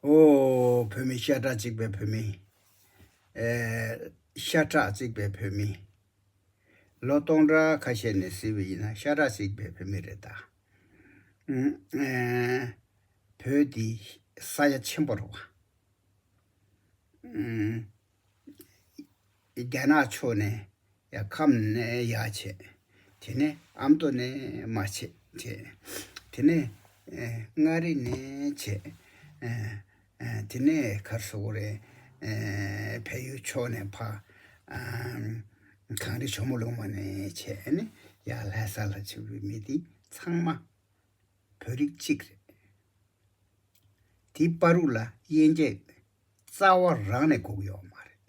ཨོ། བོད་མི་ཤ་ཁྲག་གཅིག་པའི་བོད་མི། ཤ་ཁྲག་གཅིག་པའི་བོད་མི། ལོ་སྟོང་ཕྲག་ཁ་ཤས་ནས་བཟི་བའི་ཡིན་ན་ཤ་ཁྲག་གཅིག་པའི་བོད་མི་རེད་ད། བོད་འདི་ས་ཡ་ཆེན་པོ་རེད་བ། རྒྱ་ནག་ཕྱོགས་ནས་ཡང་ཁམས་ནས་ཡ་བྱས། དེ་ནས་ཨ་མདོ་ནས་མ་བྱས་བྱས། དེ་ནས་མངའ་རིས་ནས་བྱས། དེ་ནས་གར་སོག་རེ། བལ་ཡུལ་ཕྱོགས་ནས་ཕ། གངས་རི་ཇོ་མོ་ལུང་མ་ནས་བྱས། ཡང་ལྷ་ས་ལ་ཆུ་བོའི་མི་དེ་ཚང་མ། བོད་རིགས་གཅིག་རེད། དེ་དཔའ་རུག་ལ་དབྱེ་འབྱེད་རྩ་བ་རང་ནས་འགོག་ཡོད་མ་རེད།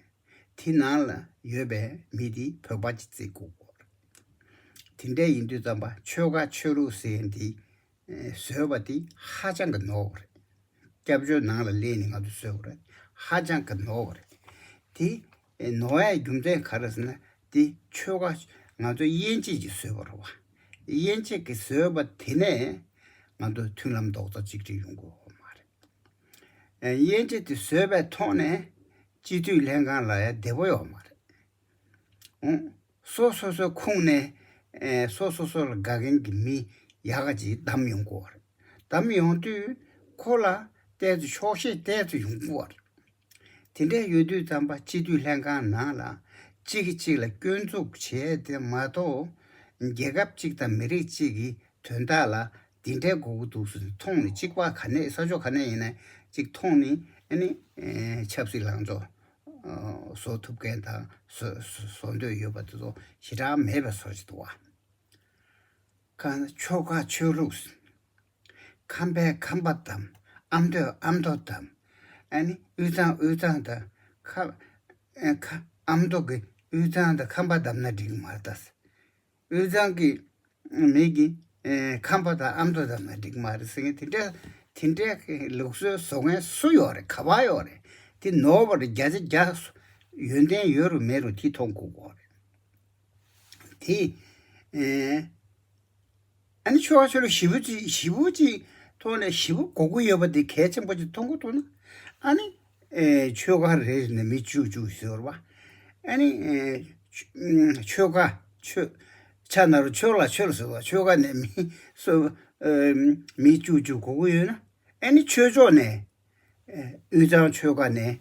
དེ་ནང་ལ་ཡོད་པའི་མི་དེ་བོད་པ་གཅིག་རྩིས་འགོག་དགོས་རེད། དེ་འདྲ་ཡིན་དུས་རྩམ་པ་ཆོལ་ཁ་ཆོས་ལུགས་ཟེར་འདི་བཟོས་པ་དེ་ཧ་ཅང་གི་ནོར་བ་རེད། སྐྱབས་བཅོལ་ནང་ལ་སླེབས་ནས་ང་ཚོ་བཟོས་བ་རེད་ཧ་ཅང་གི་ནོར་བ་རེད། དེ་ཨེ་ནོ་ཨའི་རྒྱུ་མཚན་ག་རེ་ཟེར་ན་དེ་ཆོལ་ཁ་ང་ཚོ་དབྱེ་འབྱེད་ཀྱིས་བཟོས་པ་རེད་བ། དབྱེ་འབྱེད་ཀྱིས་བཟོས་པ་དེ་ནས་ང་ཚོ་མཐུན་ལམ་རྡོག་རྩ་གཅིག་སྒྲིལ་ཡོང་དགོས་དགོས་མ་རེད། དབྱེ་འབྱེད་དེ་བཟོས་པའི་ཐོག་ནས་སྤྱི་འཐུས་ལྷན་ཁང་ལ་ཡང་བདེ་པོ་ཡོད་མ་རེད། འོང། སོ་སོ་སོའི་ཁུངས་ནས་སོ་སོ་སོ་ལ་དགའ་མཁན་གྱི་མི་ཡག་ག་ཅིག་བདམས་ཡོང་དགོས་བ་རེད། བདམས་ཡོང་དུས་ཁོ་ལ་བལྟས་ཚེ་ཆོག་ཤེས་བལྟས་ཚེ་ཡོང་དགོས་བ་རེད། དེ་འདྲ་ཡོད་དུས་རྩམ་པ་སྤྱི་འཐུས་ལྷན་ཁང་ནང་ལ་གཅིག་གིས་གཅིག་ལ་སྐྱོན་འཛུགས་བྱས་དེ་མ་གཏོགས། རྒྱལ་ཁབ་གཅིག་དང་མི་རིགས་གཅིག་གི་དོན་དག་ལ་འདི་འདྲའི་མགོ་བོ་དུག་སུ་མཐོང་ནས་གཅིག་པ་ག་ནས་ས་ཕྱོགས་ག་ནས་ཡིན་ན་གཅིག་མཐོང་ནས་ནི་ཆབ་སྲིད་ལང་ཚོ་བཟོ་ཐུབ་མཁན་དང་བཟོ་འདོད་ཡོད་པ་དེ་ཚོ་ཞེ་དྲག་མེད་པའི་སོ་ཕྱེ་འདུག་བ། ཁ་ན་ཆོལ་ཁ་ཆོས་ལུགས་ཁམ་པའི་ཁམ་པ་དང། ཨམ་མདོའི་ཨམ་མདོ་དང། དབུས་གཙང་དབུས་གཙང་དང། ཨམ་མདོ་གི་དབུས་གཙང་དང་ཁམ་པ་བསྡམས་ན་འགྲིག་མ་རེད། དབུས་གཙང་གི་མིག་གིས་ཁམ་པ་དང་ཨམ་མདོ་བསྡམས་ན་འགྲིག་མ་རེད་ཟེར་མཁན་དེ་འདྲ་དེ་འདྲའི་ལུགས་སྲོལ་བཟོ་མཁན་སུ་ཡོད་རེད་ག་པ་ཡོད་རེད། དེ་ནོར་བ་རེད་བརྒྱ་ཆ་བརྒྱ། ཡོན་ཏན་ཡོད་རུང་མེད་རུང་དེ་མཐོང་དགོས་དགོས་རེད། དེ། ཨ་ནི་ཆོལ་ཁ་ཆོལ་ལོ་བཞི་བོ་གཅིག་བཞི་བོ་གཅིག་ཐོག་ནས་བཞི་བོ་གོ་དགོས་ཡོད་པ་དེ་གལ་ཆེན་པོ་གཅིག་མཐོང་གོ་ཐུག་ན། ཨ་ནི། ཆོལ་ཁ་རེ་རེ་ནས་མི་བཅུ་བཅུ་ཟེར་བ། ཨ་ནི། ཆོལ་ཁ་ཆོལ། ཆ་ན་རུ་ཆོལ་ལ་ཆོལ་ཟེར་བ་ཆོལ་ཁ་ནས་མི་སོ། མི་བཅུ་བཅུ་གོ་དགོས་ཡོད་ན། ཨ་ནི་ཆོལ་ཕྱོགས་ནས། དབུས་གཙང་ཆོལ་ཁ་ནས།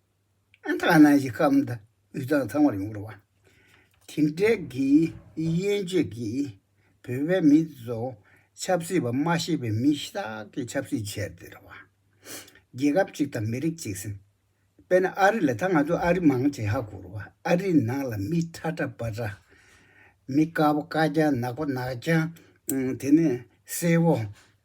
ཐང་ནང་གི་སྐམ་དང་དབུས་གཙང་ཚང་མར་ཡོང་རོགས། དེ་འཕྲལ་གྱི་དབྱེན་བཅོས་ཀྱིས་བོད་པའི་མི་ཚོ་ཆབ་སྲིད་པ་མ་ཤེས་པའི་མི་ཞིག་དག་གི་ཆབ་སྲིད་བྱས་ཏེ་རོགས། རྒྱལ་ཁབ་གཅིག་དང་མི་རིགས་གཅིག་ཟེར། དཔེར་ན་ཨ་རི་ལ་ད་ང་ཚོ་ཨ་རི་མང་ཆེ་ཧ་གོ་རོགས་ཨ་རི་ནང་ལ་མི་ཁྲ་ཁྲ་པ་ཁྲ། མི་དཀར་པོ་དཀར་རྐྱང་ནག་པོ་ནག་རྐྱང་དེ་ནས་སེར་བོ།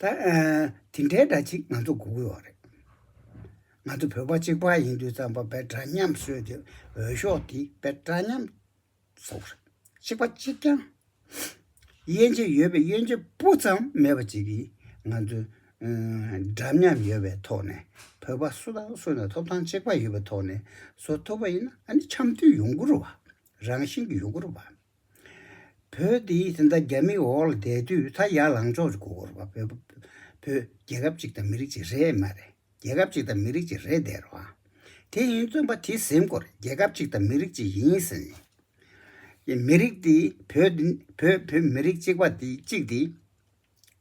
དེ་འདྲའི་སྒྲ་གཅིག་ང་ཚོ་གོ་དགོས་བ་རེད། ང་ཚོ་བོད་པ་གཅིག་པ་ཡིན་དུས་ཙམ་པ་བས་འདྲ་མཉམ་གསོལ་ཏེ་འོས་ཤོག་འདི་བས་འདྲ་མཉམ་བཟོ་རེད། གཅིག་པ་གཅིག་ཀྱང། དབྱེ་འབྱེད་ཡོད་པའི་དབྱེ་འབྱེད་སྤུ་ཙམ་མེད་པ་གཅིག་གིས་ང་ཚོ་འདྲ་མཉམ་ཡོད་པའི་ཐོག་ནས་བོད་པ་སུ་དང་སུ་ནས་ཐོབ་ཐང་གཅིག་པ་ཡོད་པའི་ཐོག་ནས་བཟོ་ཐུབ་པ་ཡིན་ན་འདི་འཆམ་མཐུན་ཡོང་དགོས་རུ་བ་རང་བཞིན་གྱི་ཡོང་དགོས་རུ་བ། བོད་འདི་དེ་འདྲ་རྒྱ་མིའི་འོག་ལ་བསྡད་དུས་ད་ཡར་ལངས་ཕྱོགས་ཀྱི་གོ་ར་བོད་རྒྱལ་ཁབ་ཅིག་དང་མི་རིགས་ཅིག་རེད་མ་རེད་རྒྱལ་ཁབ་ཅིག་དང་མི་རིགས་ཅིག་རེད་དེར་བ་དེ་ཡིན་བཙོན་པ་དེ་གཟིམ་སྐོར་རྒྱལ་ཁབ་ཅིག་དང་མི་རིགས་ཅིག་ཡིན་ཟེར་ནས་མི་རིགས་དེ་བོད་བོད་མི་རིགས་གཅིག་པ་དེ་གཅིག་དེ་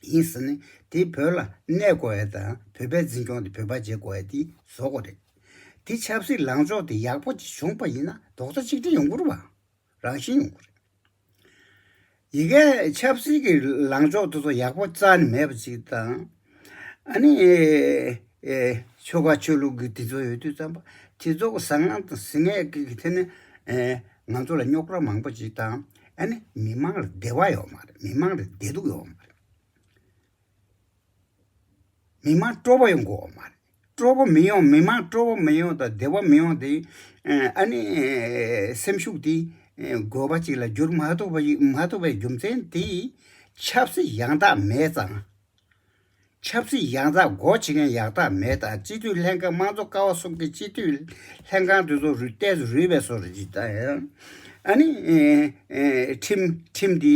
ཡིན་ཟེར་ནས་དེ་བོད་ལ་གནས་དགོ་བའི་དང་བོད་པའི་འཛིན་སྐྱོང་དེ་བོད་པ་བྱེད་དགོ་བའི་དེ་བཟོ་དགོ་རེད་དེ་ཆབ་སྲིད་ལངས་ཕྱོགས་དེ་ཡག་པོ་ཅིག་བྱུང་པ་ཡིན་ན་རྡོག་རྩ་གཅིག་སྒྲིལ་ཡོང་དགོ་རུ་བ། རང་བཞིན་ཡོང་གི་རེད། ཡི་གེ་ཆབ་སྲིད་ཀྱི་ལངས་ཕྱོགས་དེ་ཚོ་ཡག་པོ་རྩ་ནས་མེད་པ་ཞིག་དང། ཨ་ནི། ཆོལ་ཁ་ཆོས་ལུགས་ཀྱི་དེ་ཚོ་ཡོད་དུས་ཙམ་པོ་དེ་ཚོ་གི་བཟང་ངན་དང་ཟིན་ངན་ཀྱི་ཐད་ནས། ང་ཚོ་ལ་རྙོག་གྲ་མང་པོ་ཞིག་དང། ཨ་ནི་མི་མང་ལ་བདེ་བ་ཡོད་མ་རེད་མི་མང་ལ་བདེ་སྡུག་ཡོད་མ་རེད། མི་མང་སྤྲོ་བོ་ཡོང་དགོས་བ་མ་རེད། སྤྲོ་བོ་མི་ཡོང་མི་མང་སྤྲོ་བོ་མི་ཡོང་དང་བདེ་བ་མི་ཡོང་དེ། ཨ་ནི། སེམས་ཤུགས་དེ། དགོས་པ་ཅིག་ལ་བསྒྱུར་མ་ཐུབ་པ་ཞིག་མ་ཐུབ་པའི་རྒྱུ་མཚན་དེ། ཆབ་སྲིད་ཡང་དག་མེད་ཙང། ཆབ་སྲིད་ཡང་དག་སྒོ་འབྱེད་མཁན་ཡག་དག་མེད་དང་སྤྱི་འཐུས་ལྷན་ཁང་དམངས་གཙོ་ཀ་བ་གསུམ་གྱི་སྤྱི་འཐུས། ལྷན་ཁང་དེ་ཚོ་རུལ་བལྟས་སུ་རུལ་བས་སོ་རེད་ཅེས་དང། ཨ་ནི། ཁྲིམས། ཁྲིམས་དེ།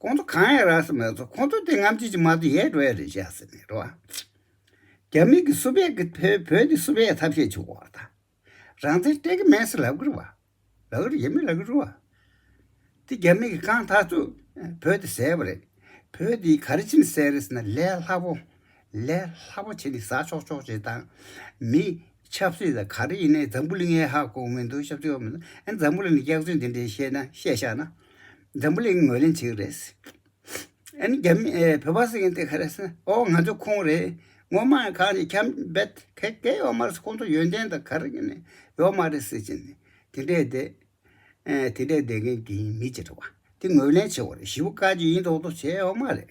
ཁོང་ཚོ་གང་ཡང་རག་ས་མེད་ཚོ་ཁོང་ཚོ་དེ་ངམ་ཆེ་ཆེ་མ་གཏོགས་ཡས་འགྲོ་ཡ་རེད་བཞག་ཟེར་ནས་འགྲོ་བ། རྒྱ་མི་གི་སུ་བེད་གི་བོད་བོད་ཀྱི་སུ་བེད་ཐབས་ཤེས་བྱུག་བ་དང། རང་བཙན་སྤྲད་གི་མེད་ས་ལབ་གི་རུ་བ། ལབ་གི་རུ་ཡས་མེད་ལབ་གི་རུ་བ། དེ་རྒྱ་མི་གི་གང་ཐག་ཚོས་བོད་དེ་ཟས་པ་རེད། བོད་དེ་ག་རེ་བྱིན་ཟས་རེད་ཟེར་ན་ལས་སླ་པོ། ལས་སླ་པོ་བྱས་ནས་ཟ་ཆོག་ཆོག་བྱེད་དང། མི། ཆབ་སྲིད་དང་ག་རེ་ཡིན་ནའི་འཛམ་བུ་གླིང་ཨེ་ཧ་གོ་མི་འདུག་ཤབ་ཆོག་མི་འདུག་འཛམ་བུ་གླིང་ནས་སྐྱག་རྫུན་དེ་འདྲའི་བཤད་ན་བཤད་ཤག་ན། འཛམ་བུ་གླིང་ངོས་ལེན་བྱེད་ཀྱི་རེད། ཨ་ནི་རྒྱ་མི་བོད་པ་སེང་གེ་དེ་ག་རེ་ཟེར་ན་ཨོ་ང་ཚོ་ཁོང་རེད། ངོ་མ་ཨ་གང་ནས་ཁྱབ་འབད་ག་གས་ཡོག་མ་རེད་ཁོང་ཚོ་ཡོན་ཏན་དང་ག་རེ་གནས་ཡོག་མ་རེད་ཟེར་གྱིན། དེ་འདྲའི་བསྡད། དེ་འདྲའི་བསྡད་མཁན་དེ་ཡིན་མི་ཅི་རེད་བ། དེ་ངོས་ལེན་བྱེད་དགོས་རེད་ཞི་བུ་བཀའ་བརྒྱུད་ཡིན་མདོག་མདོག་བྱས་ཡོག་མ་རེད།